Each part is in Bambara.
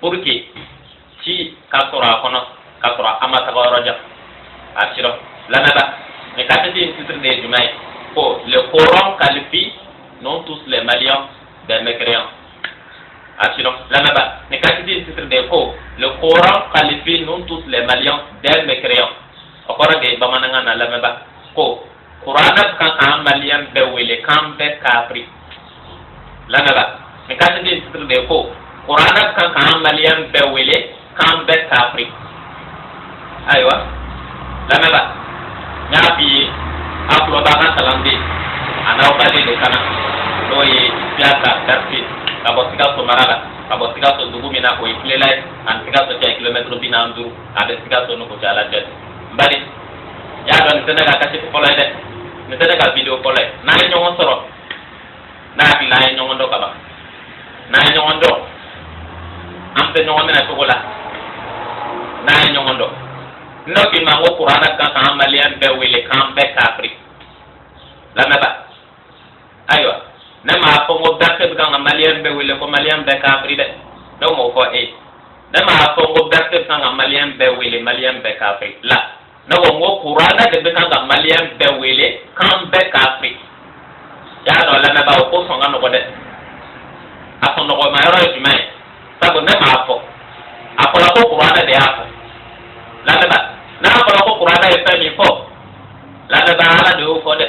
pour que ci ka sɔrɔ a kɔnɔ ka sɔrɔ a ma taga yɔrɔ jan a sirɔ lamɛnba mais kaseti in titre de ye jumɛn ye ko le coran qualifie nous tous les maliens des mécréants a sirɔ lamɛnba mais kaseti in titre de ye ko le coran qualifie nous tous les maliens des mécréants o kɔrɔ de ye bamanankan na lamɛnba ko kuranɛ kan k'an maliyɛn bɛɛ wele k'an bɛɛ kaafiri lamɛnba nin kaseti titre de ko kuranɛ kan k'an maliyɛn bɛɛ wele k'an bɛɛ kaafiri ayiwa lamɛnba n y'a f'i ye a tulo b'a ka kalanden a n'aw balima de kan na n'o ye siyaka bɛrɛte ka bɔ sikaso mara la ka bɔ sikaso dugu min na k'o ye kilela ye a ni sikaso cɛ kilomɛtiri bi naani duuru a bɛ sikaso ni kucala cɛ n bali y'a dɔn nin tɛ ne ka kaseti fɔlɔ ye dɛ nin tɛ ne ka video fɔlɔ ye n'an ye ɲɔgɔn sɔrɔ n'a hakili la an ye ɲɔgɔn dɔn ka ban n'an ye ɲɔgɔn dɔn an tɛ ɲɔgɔn minɛ tɔgɔ la n'an ye ɲɔgɔn dɔn n'o k'i ma ko kuranɛ kan k'an maliyɛn bɛɛ wele k'an bɛɛ kafiri lamɛnba ayiwa ne m'a fɔ ko bɛrɛte bɛ kan ka maliyɛn bɛɛ wele ko maliyɛn bɛɛ kafiri dɛ ne m'o fɔ e ne m'a fɔ ko bɛrɛte bɛ kan ka maliyɛn bɛɛ wele maliyɛn bɛɛ kafiri la ne ko n ko kuranɛ de bɛ kan ka maliyɛn bɛɛ wele k'an bɛɛ kafiri y'a dɔn lamɛnbaa o ko sɔn ka nɔgɔ dɛ a sɔn nɔgɔma yɔrɔ ye jumɛn ye sabu ne m'a fɔ a fɔra ko kuranɛ de y'a fɔ lamɛnbaa n'a fɔra ko kuranɛ ye fɛn min fɔ lamɛnbaa ala de y'o fɔ dɛ.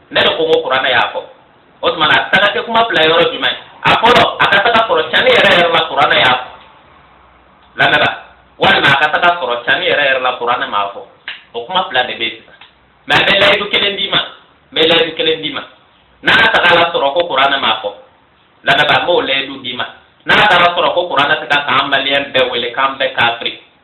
ne de ko n ko kuranɛ y'a fɔ o tuma na a taga kɛ kuma fila yɔrɔ jumɛn ye a fɔlɔ a ka taga sɔrɔ cani yɛrɛ yɛrɛ la kuranɛ y'a fɔ lamɛnba walima a ka taga sɔrɔ cani yɛrɛ yɛrɛ la kuranɛ m'a fɔ o kuma fila de bɛ yen sisan mɛ n bɛ layidu kelen d'i ma n bɛ layidu kelen d'i ma n'a tagala sɔrɔ ko kuranɛ m'a fɔ lamɛnba n b'o layidu d'i ma n'a taara sɔrɔ ko kuranɛ tɛ kan k'an maliyɛn bɛɛ wele k'an bɛɛ kafiri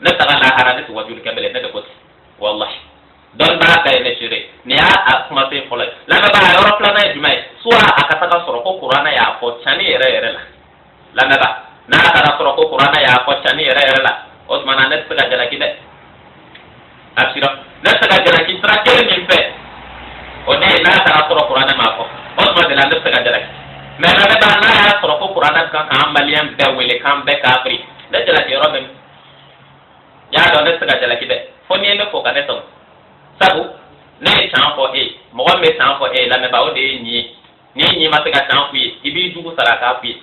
ne taga lahara ne tɛ wajuli kɛ bilen ne de ko ten walahi dɔnbaa ka ye ne seere nin y'a kumasen fɔlɔ ye lamɛnbaa a yɔrɔ filanan ye jumɛn ye soit a ka taga sɔrɔ ko kuranɛ y'a fɔ cani yɛrɛ yɛrɛ la lamɛnbaa n'a taga sɔrɔ ko kuranɛ y'a fɔ cani yɛrɛ yɛrɛ la o tuma na ne tɛ se ka jalaki dɛ a sira ne se ka jalaki sira kelen min fɛ o de ye n'a taga sɔrɔ kuranɛ m'a fɔ o tuma de la ne se ka jalaki mɛ lamɛnba n'a y'a sɔrɔ ko kuranɛ kan k'an maliyɛn bɛɛ wele k'an bɛɛ kafiri ne jalaki yɔrɔ min y'a dɔn ne tɛ se ka jalaki dɛ fo n'i ye ne fɔ ka ne tɔɲɔ sabu ne ye can fɔ e ye mɔgɔ min bɛ can fɔ e ye lamɛnbaa o de ye nin ye n'i ɲin ma se ka can f'i ye i b'i jugu sara k'a f'i ye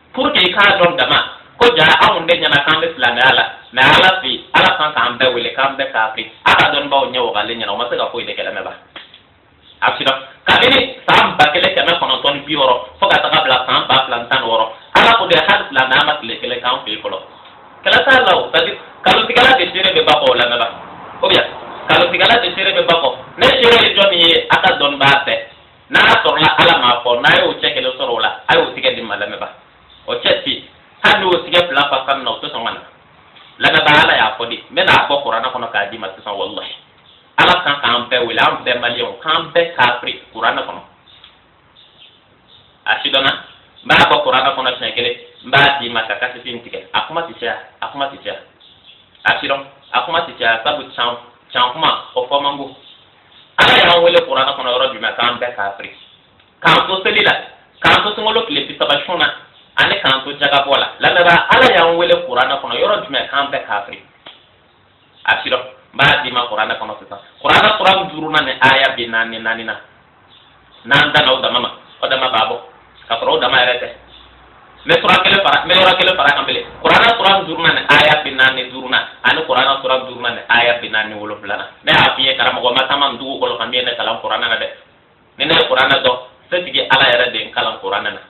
pour que i k'a dɔn dama ko jaa anw de ɲɛna k'an bɛ silamɛya la mais ala fɛ ala kan k'an bɛɛ wele k'an bɛɛ kafiri a ka dɔnnibaaw ɲɛ wagalen ɲɛna o ma se ka foyi de kɛ lamɛnba a sira kabini san ba kelen kɛmɛ kɔnɔntɔn ni bi wɔɔrɔ fo ka taga bila san ba fila ni tan ni wɔɔrɔ ala ko de hali silamɛya ma tile kelen k'an fɛ yen fɔlɔ kalo t'a la o c'est à dire kalotigɛla de seere bɛ ba kɔ lamɛnba ou bien kalotigɛla de seere bɛ ba kɔ ne seere ye jɔni ye a ka dɔnnibaa fɛ n'a sɔrɔla ala m'a fɔ n'a y'o cɛ kelen sɔrɔ o la a y'o tigɛ di n ma lamɛnba o cɛ si hali n'o tigɛ fila fa ka na o tɛ sɔn ka na lamɛnba ala y'a fɔ de n bɛ n'a bɔ kuranɛ kɔnɔ k'a d'i ma sisan walahi ala kan k'an bɛɛ wele an bɛɛ maliyɛnw k'an bɛɛ kafiri kuranɛ kɔnɔ a sidɔnna n b'a bɔ kuranɛ kɔnɔ siɲɛ kelen n b'a d'i ma ka kasɛti in tigɛ a kuma ti caya a kuma ti caya a sidɔn a kuma ti caya sabu can can kuma o fɔ man go ala y'an wele kuranɛ kɔnɔ yɔrɔ jumɛn k'an bɛɛ kafiri k'an to seli la k'an to sunkalo tile bi saba sun na ani k'an to jagabɔ la lamɛnba ala y'an wele kuranɛ kɔnɔ yɔrɔ jumɛn k'an bɛɛ kafiri a sidɔn n b'a d'i ma kuranɛ kɔnɔ sisan kuranɛ sura duurunan ni aya bi naani ni naani na n'an danna o dama ma o dama b'a bɔ ka sɔrɔ o dama yɛrɛ tɛ n bɛ sura kelen fara n bɛ yɔrɔ kelen fara kan bilen kuranɛ sura duurunan ni aya bi naani ni duurunan ani kuranɛ sura duurunan ni aya bi naani ni wolonwulanan ne y'a f'i ye karamɔgɔ ma taama nin dugukolo kan min ye ne kalan kuranɛ na dɛ ni ne ye kuranɛ dɔn setigi ala yɛrɛ de ye n kalan kuranɛ na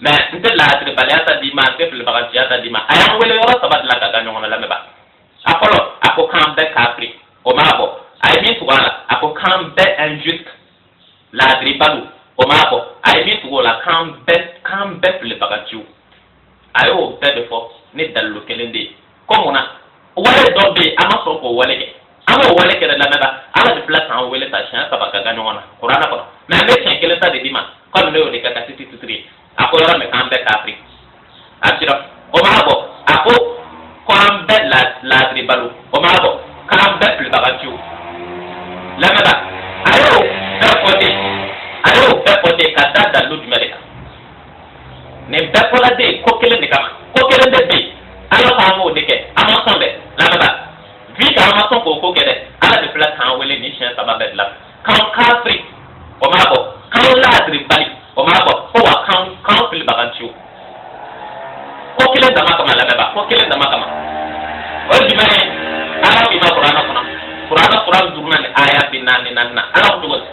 mais n tɛ laadiribaliya ta d'i ma n tɛ filibaganciya ta d'i ma a y'an wele yɔrɔ saba de la ka gan ɲɔgɔn na lamɛnba a fɔlɔ a ko k'an bɛɛ kafiri o m'a bɔ a ye min tugu a la a ko k'an bɛɛ injuste laadiribaliw o m'a bɔ a ye min tugu o la k'an bɛɛ filibaganciw a y'o bɛɛ de fɔ ni dalilu kelen de ye ko mun na wale dɔ bɛ yen an ma sɔn k'o wale kɛ an m'o wale kɛ dɛ lamɛnba ala de filɛ k'an wele sa siɲɛ saba ka gan ɲɔgɔn na kuranɛ kɔnɔ mais n bɛ siɲɛ kelen ta de d'i ma kɔmi ne y'o de kɛ kasɛti titiri ye a ko yɔrɔ min k'an bɛɛ kafiri a sira o m'a bɔ a ko k'an bɛɛ laadiribaliw o m'a bɔ k'an bɛɛ filibaganciw lamɛnba a y'o bɛɛ fɔ ten a y'o bɛɛ fɔ ten ka da dalilu jumɛn de kan nin bɛɛ fɔla de ko kelen de kama ko kelen de bɛ ala ko an b'o de kɛ an ma sɔn dɛ lamɛnba vu que an ma sɔn k'o ko kɛ dɛ ala de filɛ k'an wele nin siɲɛ saba bɛɛ la k'an kafiri o m'a bɔ k'an laadiribali o m'a bɔ ko wa k'an filibaganciw ko kelen dama kama lamɛnba ko kelen dama kama o ye jumɛn ye ala k'i ma kuranɛ kɔnɔ kuranɛ sura duurunan ni aya bi naani ni naani na ala ko cogo di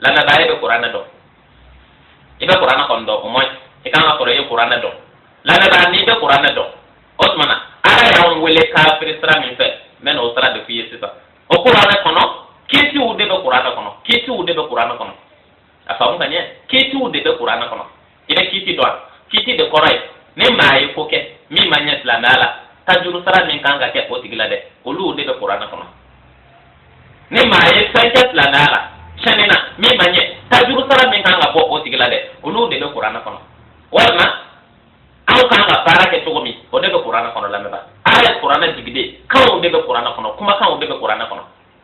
lamɛnba e bɛ kuranɛ dɔn i bɛ kuranɛ kɔni dɔn au moins i kan ka sɔrɔ i ye kuranɛ dɔn lamɛnba n'i bɛ kuranɛ dɔn o tuma na ala y'an wele kafiri sira min fɛ n bɛ n'o sira de f'i ye sisan o kuranɛ kɔnɔ kitiw de bɛ kuranɛ kɔnɔ kitiw de bɛ kuranɛ kɔnɔ a faamu ka ɲɛ kitiw de bɛ kuranɛ kɔnɔ i bɛ kiti dɔn kiti de kɔrɔ ye ni maa ye ko kɛ min ma ɲɛ silamɛya la tajuru sara min kan ka kɛ o tigi la dɛ olu de bɛ kuranɛ kɔnɔ ni maa ye fɛn kɛ silamɛya la tiɲɛni na min ma ɲɛ tajuru sara min kan ka bɔ o tigi la dɛ olu de bɛ kuranɛ kɔnɔ walima aw kan ka baara kɛ cogo min o de bɛ kuranɛ kɔnɔ lamɛnba ala ye kuranɛ jigin de kanw de bɛ kuranɛ kɔnɔ kumakanw de bɛ kuranɛ kɔnɔ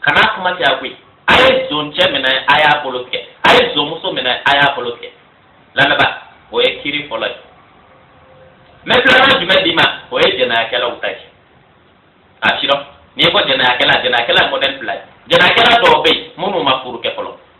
kana kuma tɛ a koyi a ye zoncɛ minɛ a y'a bolo tigɛ a ye zonmuso minɛ a y'a bolo tigɛ lamɛnba o ye kiri fɔlɔ ye mɛ filanan jumɛn d'i ma o ye jɛnɛyakɛlaw ta ye a sidɔn n'i ko jɛnɛyakɛla jɛnɛyakɛla mɔdɛli fila ye jɛnɛyakɛla dɔw bɛ yen minnu ma furu kɛ fɔlɔ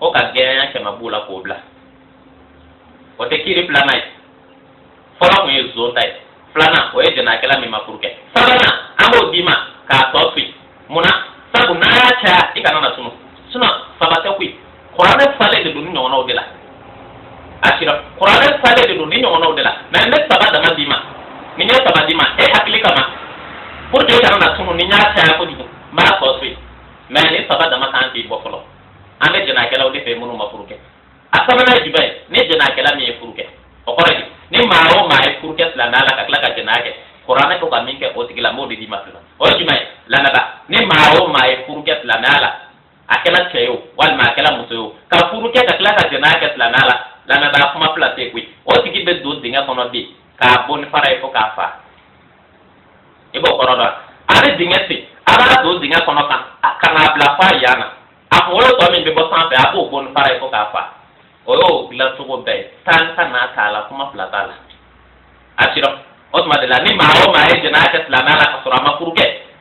o ka gɛɲɛ kɛmɛ b'o la k'o bila o tɛ kiri filanan ye fɔlɔ tun ye zon ta ye filanan o ye jɛnɛyakɛla min ma furu kɛ sabanan an b'o d'i ma k'a tɔ to yen mun na sabu n'an y'a caya i kana na tunu sinɔn saba tɛ koyi kuranɛ falen de don nin ɲɔgɔnnaw de la a sidɔn kuranɛ falen de don nin ɲɔgɔnnaw de la mɛ n bɛ saba dama d'i ma ni n ye saba d'i ma e hakili kama pour que i kana na tunu ni n y'a caya kojugu n b'a tɔ to yen mɛ nin saba dama kan k'i bɔ fɔlɔ an bɛ jɛnɛyakɛlaw de fɛ minnu ma furu kɛ a sabanan ye jumɛn ye ni jɛnɛyakɛla min ye furu kɛ o kɔrɔ ye ni maa o maa ye furu kɛ silamɛya la ka tila ka jɛnɛya kɛ kuranɛ ko ka min kɛ o tigi la n b'o de d'i ma sisan o ye jumɛn ye lamɛnba ni maa o maa ye furu kɛ silamɛya la a kɛra cɛ ye o walima a kɛra muso ye o ka furu kɛ ka tila ka jɛnɛya kɛ silamɛya la lamɛnba kuma fila tɛ koyi o tigi bɛ don dingɛ kɔnɔ bi k'a bon ni fara ye fo k'a fa i b'o kɔrɔ dɔn a bɛ dingɛ sen a b'a don dingɛ kɔnɔ kan ka n'a bila f'a yan na a kunkolo tɔ min bɛ bɔ sanfɛ a b'o bon ni fara ye fo k'a fa o y'o dilan cogo bɛɛ ye tan kana t'a la kuma fila t'a la a sidɔn o tuma de la ni maa o maa ye jɛnɛya kɛ silamɛya la ka sɔrɔ a ma furu kɛ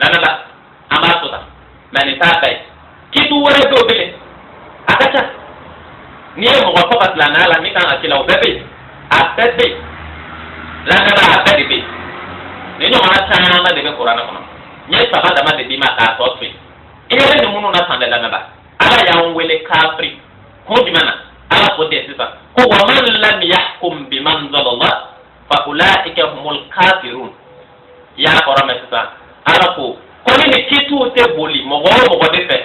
lamɛnba an b'a tɔ to mɛ nin t'a bɛɛ ye kiti wɛrɛ dɔw bɛ yen a ka ca n'i ye mɔgɔ faga silamɛya la min kan ka k'i la o bɛɛ bɛ yen a bɛɛ bɛ yen lamɛnba a bɛɛ de bɛ yen nin ɲɔgɔnna caman de bɛ kuranɛ kɔnɔ n ye saba dama de d'i ma k'a tɔ to yen i yɛrɛ ni minnu na san bɛɛ lamɛnba ala y'an wele kafiri kun jumɛn na ala ko ten sisan ko wa man lam yahkum bimanzalallah fa ulaika humul kafirun i y'a kɔrɔ mɛn sisan ala ko ko ni nin kitiw tɛ boli mɔgɔ o mɔgɔ de fɛ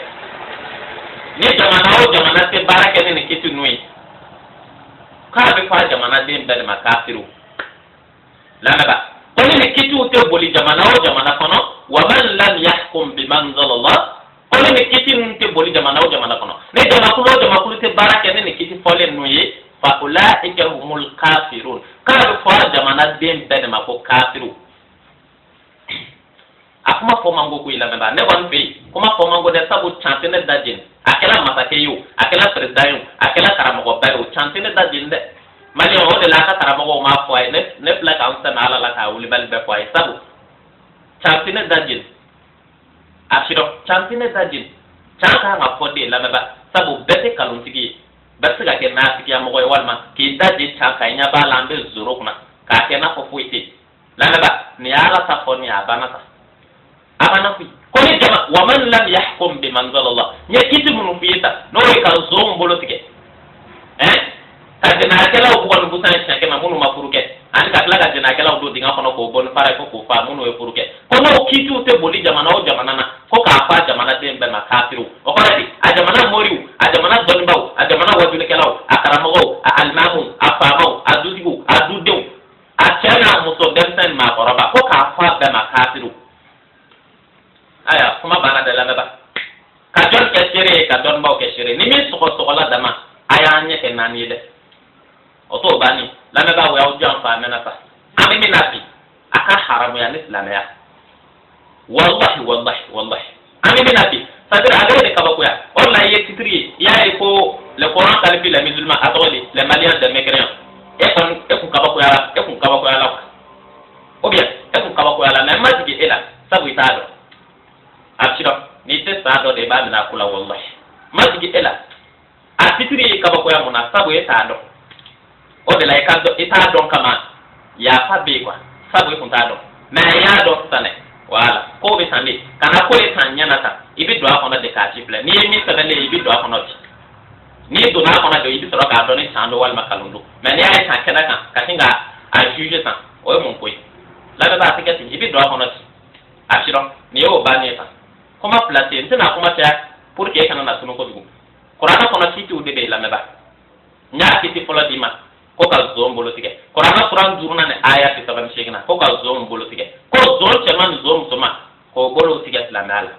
ni jamana o jamana tɛ baara kɛ ni nin kiti ninnu ye k'a bɛ fɔ a jamanaden bɛɛ de ma kafiriw lamɛnba ko ni nin kitiw tɛ boli jamana o jamana kɔnɔ wa man lam yahkum bimanzalallah ko ni nin kiti ninnu tɛ boli jamana o jamana kɔnɔ ni jamakulu o jamakulu tɛ baara kɛ ni nin kiti fɔlen ninnu ye fa ulaika humul kafirun k'a bɛ fɔ jamanaden bɛɛ de ma ko kafiru a kuma fɔ man go koyi lamɛnba ne kɔni fɛ yen kuma fɔ man go dɛ sabu can tɛ ne da jeni a kɛra masakɛ ye o a kɛra perezidan ye o a kɛra karamɔgɔba ye o can tɛ ne da jeni dɛ mali o de la a ka karamɔgɔw m'a fɔ a ye ne filɛ ka n sɛmɛ ala la k'a wulibali bɛɛ fɔ a ye sabu can tɛ ne da jeni a sirɔ can tɛ ne da jeni can ka kan ka fɔ de lamɛnba sabu bɛɛ tɛ kalontigi ye bɛɛ tɛ se ka kɛ naafigiya mɔgɔ ye walima k'i da je can ka i ɲɛ b'a la an bɛ zoro kunna k'a kɛ n'a fɔ foyi tɛ lamɛnba nin y'ala ta fɔ nin a banna sa a banna koyi ko ni jama waman lam yahkum biman zalala n ye kiti minnu f'i ye sa n'o ye ka zonw bolo tigɛ ani ka jɛnɛyakɛlaw bugɔ ni busan siɲɛ kɛmɛ minnu ma furu kɛ ani ka tila ka jɛnɛyakɛlaw don dingɛ kɔnɔ k'o bon ni fara ye fo k'o fa minnu ye furu kɛ ko n'o kiitiw tɛ boli jamana o jamana na ko k'a f'a jamanaden bɛɛ ma kafiriw o kɔrɔ di a jamana moriw a jamana dɔnnibaaw a jamana wajulikɛlaw a karamɔgɔw a alimamu a faamaw a dutigiw a dudenw a cɛ n'a muso denmisɛnnin maakɔrɔba ko k'a f'a bɛɛ ma kafiriw aya kuma banna dɛ lamɛnba ka jɔn kɛ seere ye ka dɔnnibaw kɛ seere ni min sɔgɔsɔgɔla dama a y'an ɲɛ kɛ naani ye dɛ o t'o banni lamɛnbaa o y'aw janfa a mɛnna sa an bɛ min na bi a ka haramuya ni silamɛya walahi walahi walahi an bɛ min na bi c'est-à-dire a b'e de kabakoya o de la i ye titiri ye i y'a ye ko le coran qualifie les musulmans a tɔgɔ di les maliens de mécréants e kɔni e kun kabakoyala e kun kabakoyala quoi ou bien e kun kabakoyala mais n ma jigi e la sabu i t'a dɔn a sirɔ ni tɛ san dɔ de b'a minɛ a ko la wallahi n ma jigi e la a titiri y'e kabakoya mun na sabu e t'a dɔn o de la i ka i t'a dɔn kama yafa bɛ yen quoi sabu i kun t'a dɔn mais a y'a dɔn sisan dɛ wala ko bɛ tan de kana ko ye tan ɲɛ na tan i bɛ don a kɔnɔ de k'a sifilɛ n'i ye min sɛbɛnlen ye i bɛ don a kɔnɔ bi n'i donna a kɔnɔ de i bɛ sɔrɔ k'a dɔn ni can don walima kalon don mais n'i y'a ye tan kɛnɛ kan ka sin k'a juger tan o ye mun ko ye lamɛnbaa a tɛ kɛ ten i bɛ don a kɔnɔ ten a sirɔ nin y'o bannen ye tan kuma fila tɛ yen n tɛna kuma caya pour que e kana na tunu kojugu kuranɛ kɔnɔ kitiw de bɛ yen lamɛnba n y'a kiti fɔlɔ d'i ma ko ka zon bolo tigɛ kuranɛ suran duurunan ni aya bi saba ni seeginan ko ka zon bolo tigɛ ko zon cɛman ni zon musoman k'o bolow tigɛ silamɛya la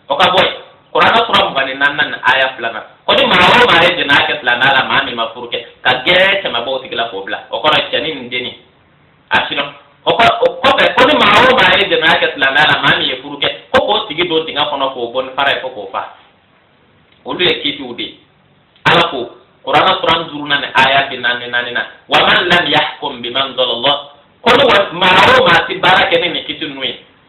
o ka bɔ yen kuranɛ suran mugan ni naaninan ni aya filanan ko ni maa o maa ye jɛnɛya kɛ silamɛya la maa min ma furu kɛ ka gɛrɛ kɛmɛ bɔ o tigi la k'o bila o kɔ rɔ cɛni ni denni a sirɔ o kɔ o kɔfɛ ko ni maa o maa ye jɛnɛya kɛ silamɛya la maa min ye furu kɛ ko k'o tigi don dingɛ kɔnɔ k'o bon ni fara ye fo k'o fa olu ye kitiw de ye ala ko kurana suran duurunan ni aya bi naani ni naaninan wa man lam yahkum bima anzalallah ko ni maa o maa ti baara kɛ ni nin kiti ninnu ye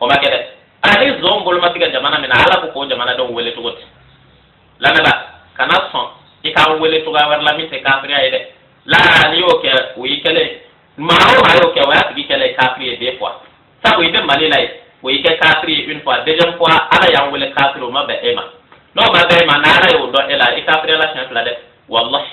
o ma kɛ dɛ ani zon bolo ma tigɛ jamana min na ala ko k'o jamanadenw wele cogo di lamɛnbaa kana sɔn i k'an wele cogoya wɛrɛ la min tɛ kafiriya ye dɛ la n'i y'o kɛ o y'i kɛlen ye maa o maa y'o kɛ o y'a tigi kɛlen ye kafiri ye deux fois sabu i bɛ mali la ye o y'i kɛ kafiri ye une fois deuxième fois ala y'an wele kafiri o ma bɛn e ma n'o ma bɛn e ma n'ala y'o dɔn e la i kafiriyala siɲɛ fila dɛ walahi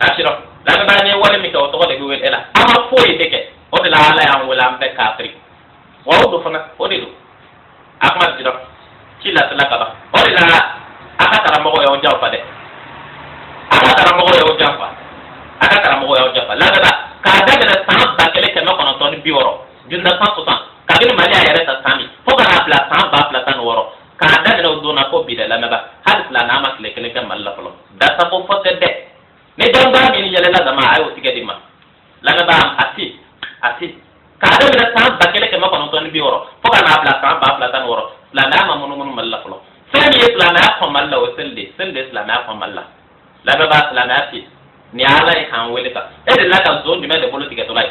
asirɔ lamɛnbaa n'i wale min kɛ o tɔgɔ de bɛ wele e la an ma foyi de kɛ o de la ala y'an wele an bɛɛ kafiri wa o don fana o de don a kuma sirɔ ci lasela ka ban o de la a ka karamɔgɔ y'aw janfa dɛ a ka karamɔgɔ y'aw janfa a ka karamɔgɔ y'aw janfa lamɛnbaa k'a daminɛ san ba kelen kɛmɛ kɔnɔntɔn ni bi wɔɔrɔ dix-neuf cent soixante kabini mali y'a yɛrɛ ta san min fo ka n'a bila san ba fila tan ni wɔɔrɔ k'a daminɛ o don na fo bi dɛ lamɛnbaa hali silamɛya ma tile kelen kɛ mali la fɔlɔ dasako fɔ tɛ dɛ ni dɔnnibaga min yɛlɛla dama a y'o tigɛ di n ma lamɛnbaa a ti a ti k'a daminɛ san ba kelen kɛmɛ kɔnɔntɔn ni bi wɔɔrɔ fo ka n'a bila san ba fila tan ni wɔɔrɔ silamɛya ma munumunu mali la fɔlɔ fɛn min ye silamɛya kɔn mali la o ye seli de ye seli de ye silamɛya kɔn mali la lamɛnbaa silamɛya ti nin ye ala ye k'an wele sa e delila ka zon jumɛn de bolo tigɛtɔla ye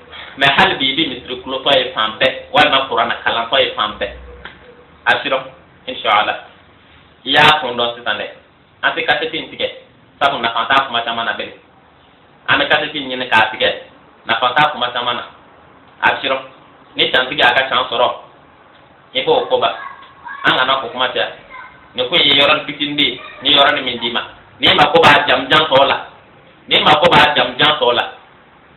mais hali bi i bɛ misiri kulotɔ ye fan bɛɛ walima kuranna kalantɔ ye fan bɛɛ a sirɔ inshallah i y'a kun dɔn sisan dɛ an tɛ kasɛti in tigɛ sabu nafa t'a kuma caman na bilen an bɛ kasɛti in ɲini k'a tigɛ nafa t'a kuma caman na a sirɔ ni cantigi y'a ka can sɔrɔ i b'o ko ban an kana o kuma caya nin ko in ye yɔrɔnin fitinin de ye ni yɔrɔnin min d'i ma n'i mako b'a jamujan tɔ la n'i mako b'a jamujan tɔ la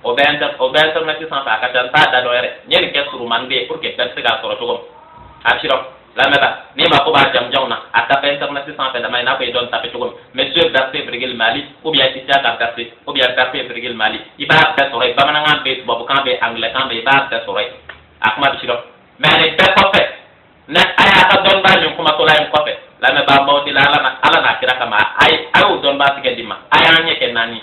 o bɛ internet sanfɛ a ka ca n t'a da dɔn yɛrɛ n ye nin kɛ surumani de ye pour que bɛɛ bɛ se k'a sɔrɔ cogo min a sirɔ lamɛnbaa n'i mako b'a jamujanw na a tape internet sanfɛ dama i n'a fɔ i dɔn tape cogo min monsieur berthé virgule mali ou bien issiaka berthé ou bien berthé virgule mali i b'a bɛɛ sɔrɔ yen bamanankan bɛ yen tubabukan bɛ yen anglɛkan bɛ yen i b'a bɛɛ sɔrɔ yen a kuma bɛ sirɔ mais nin bɛɛ kɔfɛ ne a y'a ka dɔnnibaa nin kumatɔla in kɔfɛ lamɛnbaa n b'aw deli ala n'a kira kama a ye a y'o dɔnnibaa tigɛ di n ma a y'an ɲɛ kɛ naani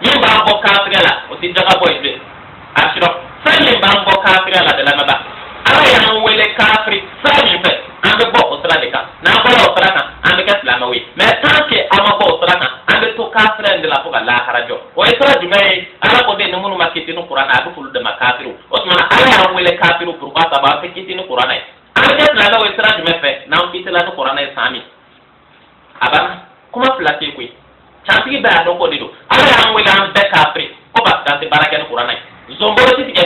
min b'an bɔ kafiriya la o tɛ jaka bɔ ye bilen a sirɔ fɛn min b'an bɔ kafiriya la dɛ lamɛnbaa ala y'an wele kafiri sira min fɛ an bɛ bɔ o sira de kan n'an bɔra o sira kan an bɛ kɛ silamɛw ye mais tant que an ma bɔ o sira kan an bɛ to kafiriya in de la fo ka lahara jɔ o ye sira jumɛn ye ala ko de ni minnu ma kiti ni kuranna ye a bɛ f'olu de ma kafiriw o tuma na ala y'an wele kafiriw pourquoi sabu an tɛ kiti ni kuranna ye an bɛ kɛ silamɛw ye sira jumɛn fɛ n'an kitila ni kuranna ye san min a banna kuma fila tɛ koyi cantigi bɛɛ y'a dɔn k'o de don ala y'an wele an bɛɛ kafiri ko parce que an tɛ baara kɛ ni kuranna ye zon bolo tɛ tigɛ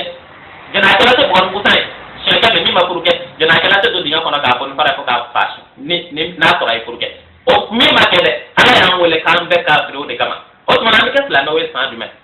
jɛnɛyakɛla tɛ bugɔ ni busan ye siɲɛ kɛmɛ min ma furu kɛ jɛnɛyakɛla tɛ don dingɛ kɔnɔ k'a bon ni fara ye fo k'a fa su ni ni n'a sɔrɔ a ye furu kɛ o min ma kɛ dɛ ala y'an wele k'an bɛɛ kafiri o de kama o tuma na an bɛ kɛ silamɛw ye san jumɛn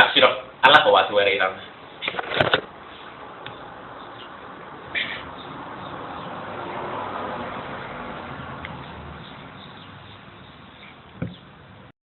abshiro ala ka waati wɛrɛ yira